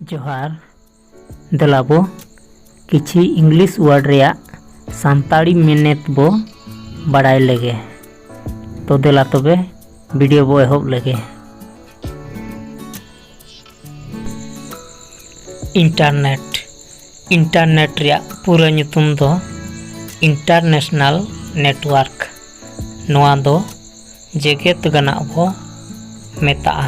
ᱡᱚᱦᱟᱨ ᱫᱮᱞᱟᱵᱚ ᱠᱤᱪᱷᱤ English word ᱨᱮᱭᱟᱜ ᱥᱟᱱᱛᱟᱲᱤ ᱢᱮᱱᱮᱛ ᱵᱚ ᱵᱟᱲᱟᱭ ᱞᱮᱜᱮ ᱛᱚ ᱫᱮᱞᱟ ᱛᱚᱵᱮ ᱵᱷᱤᱰᱤᱭᱳ ᱵᱚ ᱮᱦᱚᱵ ᱞᱮᱜᱮ ᱤᱱᱴᱟᱨᱱᱮᱴ ᱤᱱᱴᱟᱨᱱᱮᱴ ᱨᱮᱭᱟᱜ ᱯᱩᱨᱟᱹ ᱧᱩᱛᱩᱢ ᱫᱚ ᱤᱱᱴᱟᱨᱱᱮᱥᱱᱟᱞ ᱱᱮᱴᱣᱟᱨᱠ ᱱᱚᱣᱟ ᱫᱚ ᱡᱮᱜᱮᱛ ᱜᱟᱱᱟᱜ ᱵᱚ ᱢᱮᱛᱟᱜᱼᱟ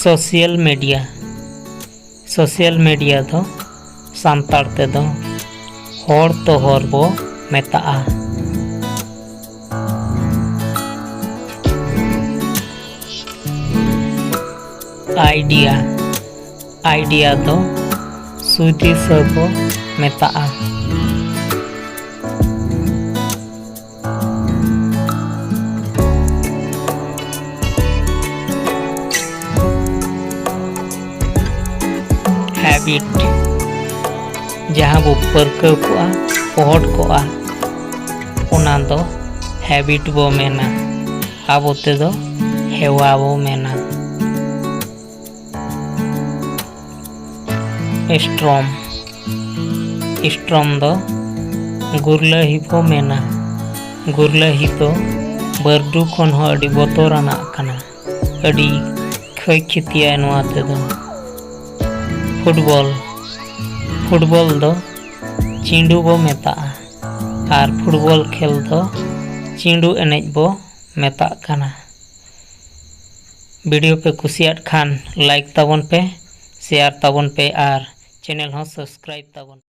ᱥᱳᱥᱤᱭᱟᱞ ᱢᱤᱰᱤᱭᱟ ᱥᱳᱥᱤᱭᱟᱞ ᱢᱤᱰᱤᱭᱟ ᱫᱚ ᱥᱟᱱᱛᱟᱲ ᱛᱮᱫᱚ ᱦᱚᱲ ᱛᱚ ᱦᱚᱨ ᱵᱚ ᱢᱮᱛᱟᱜᱼᱟ ᱟᱭᱰᱤᱭᱟ ᱟᱭᱰᱤᱭᱟ ᱫᱚ ᱥᱩᱫᱤᱥ ᱵᱚ ᱢᱮᱛᱟᱜᱼᱟ ᱦᱮᱵᱤᱴ ᱡᱟᱦᱟᱸ ᱵᱚ ᱯᱟᱹᱨᱠᱟᱹᱣ ᱠᱚᱜᱼᱟ ᱯᱚᱦᱚᱴ ᱠᱚᱜᱼᱟ ᱚᱱᱟ ᱫᱚ ᱦᱮᱵᱤᱴ ᱵᱚ ᱢᱮᱱᱟ ᱟᱵᱚ ᱛᱮᱫᱚ ᱦᱮᱣᱟ ᱵᱚ ᱢᱮᱱᱟ ᱥᱴᱨᱚᱢ ᱥᱴᱨᱚᱢ ᱫᱚ ᱜᱩᱨᱞᱟᱹᱦᱤ ᱠᱚ ᱢᱮᱱᱟ ᱜᱩᱨᱞᱟᱹᱦᱤ ᱫᱚ ᱵᱟᱹᱨᱰᱩ ᱠᱷᱚᱱ ᱦᱚᱸ ᱟᱹᱰᱤ ᱵᱚᱛᱚᱨᱟᱱᱟᱜ ᱠᱟᱱᱟ ᱟᱹᱰᱤ ᱠᱷᱚᱭ ᱠᱷᱤᱛᱤᱭᱟᱭ ᱱᱚᱣᱟ ᱛᱮᱫᱚ ᱯᱷᱩᱴᱵᱚᱞ ᱯᱷᱩᱴᱵᱚᱞ ᱫᱚ ᱪᱤᱸᱰᱩ ᱵᱚ ᱢᱮᱛᱟᱜᱼᱟ ᱟᱨ ᱯᱷᱩᱴᱵᱚᱞ ᱠᱷᱮᱞ ᱫᱚ ᱪᱤᱸᱰᱩ ᱮᱱᱮᱡ ᱵᱚ ᱢᱮᱛᱟᱜ ᱠᱟᱱᱟ ᱵᱷᱤᱰᱤᱭᱳ ᱯᱮ ᱠᱩᱥᱤᱭᱟᱫ ᱠᱷᱟᱱ ᱞᱟᱭᱤᱠ ᱛᱟᱵᱚᱱ ᱯᱮ ᱥᱮᱭᱟᱨ ᱛᱟᱵᱚᱱ ᱯᱮ ᱟᱨ ᱪᱮᱱᱮᱞ ᱦᱚᱸ ᱥᱟᱵᱥᱠᱨᱟᱭᱤᱵ ᱛᱟᱵᱚᱱ ᱯᱮ᱾